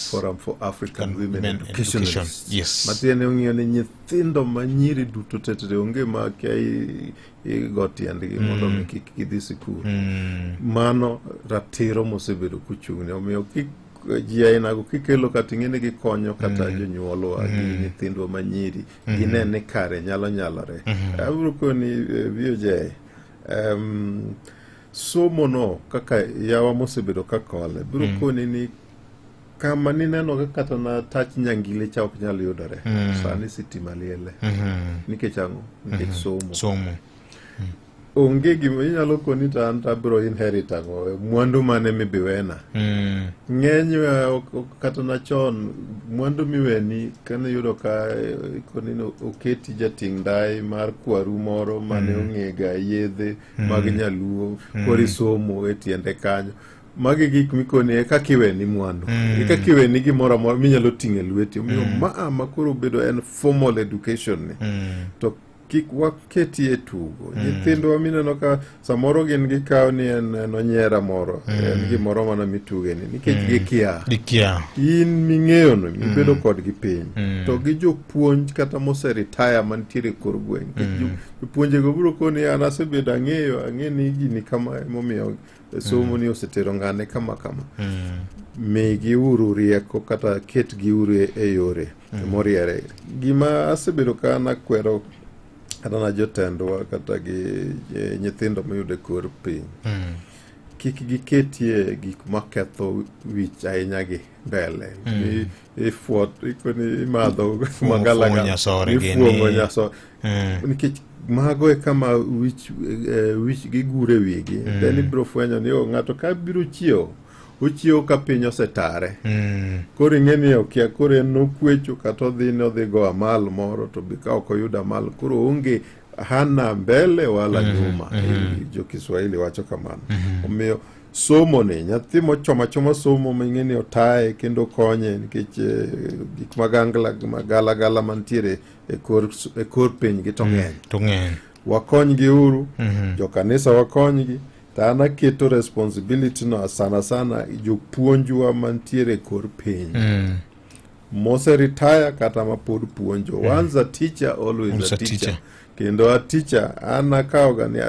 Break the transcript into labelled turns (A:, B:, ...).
A: Forum for African Women, Women Education. Education. Yes. Matiende
B: ong'iyo ni
A: nyithindo ma nyiri duto tetere onge ma kia igo tiendgi mm. mondo mi kik gidhi sikul. Mm. Mano ratiro mosebedo kuchung'ne omiyo kik ji ainago kikelo kata ing'e ni gikonyo kata mm. jonyuolwa gi mm. nyithindwa ma nyiri mm. gine ni kare nyalo nyalore. Mm-hmm. Abiro koni eh, VOJ um, somo no kaka yawa mosebedo ka kole biro koni ni kama nineno ka kata na tach nyangile cha ok nyal yudore mm. sani sitima liele mm -hmm. nikech ang'o nikech mm -hmm. somo somo mm. onge gima inyalo koni to an tabiro inherit ang'o mwandu mane mibiwena mm. ng'eny eh, kata na chon mwandu miweni kane yudo ka eh, koni oketi jating' ndai mar kwaru moro mane mm. ong'ega yedhe mm. mag nyaluo mm. kori somo e tiende kanyo magi gik mikoni e kaka iweni mwandu e kaka iweni gimoro amora minyalo ting'o e lweti omiyo ma a ma koro obedo en formal education ni to kik waketi e tugo nyithindwa mineno ka samoro gin gikawo ni en en onyera moro en gimoro mana mitugeni nikech gikia dikia in ming'eyono mibedo kodgi piny to gi jopuonj kata moseritaya mantiere e kor gweng' Nikech jo- jopuonjego biro koni an asebedo ang'eyo ang'e ni gini kama emomiyo somo ni osetero ng'ane kama kama migiuru rieko kata ketgiuru e- e yore moriere gima asebedo ka nakwero kata na jotendwa kata gi eh, nyithindo mayudo e kor piny kik giketie gik maketho wich ahinya gi mbele Mi- ifuot ikoni imadho Fuong'o- magala fuong'o ga- nyasore ifuong'o gini. nyasore Mm. nikech mago e kama wich eh, wich gigure wigi then ibiro fwenyo ni o ng'ato ka biro chiewo ochiewo ka piny osetare Mm. koro ing'e ni okia koro en nokwecho kata odhi ni odhi go amal moro to be ka ok oyudo amal koro onge hana mbele wala nyuma Eh, jo kiswahili wacho kamano omiyo somo ni nyathi mochomo achoma somo ming'e ni otaye kendo konye nikech eh, gik magangla magalagala mantiere e kor, e kor pinygi to ng'eny to ng'eny wakonygi uru Mhm. jokanisa wakonygi to an aketo responsibility no sana sana jopuonjwa mantiere e kor piny Mm. mose retire kata mapod puonjo once a teacher always Always a a teacher teacher. kendo a teacher an akawoga ni a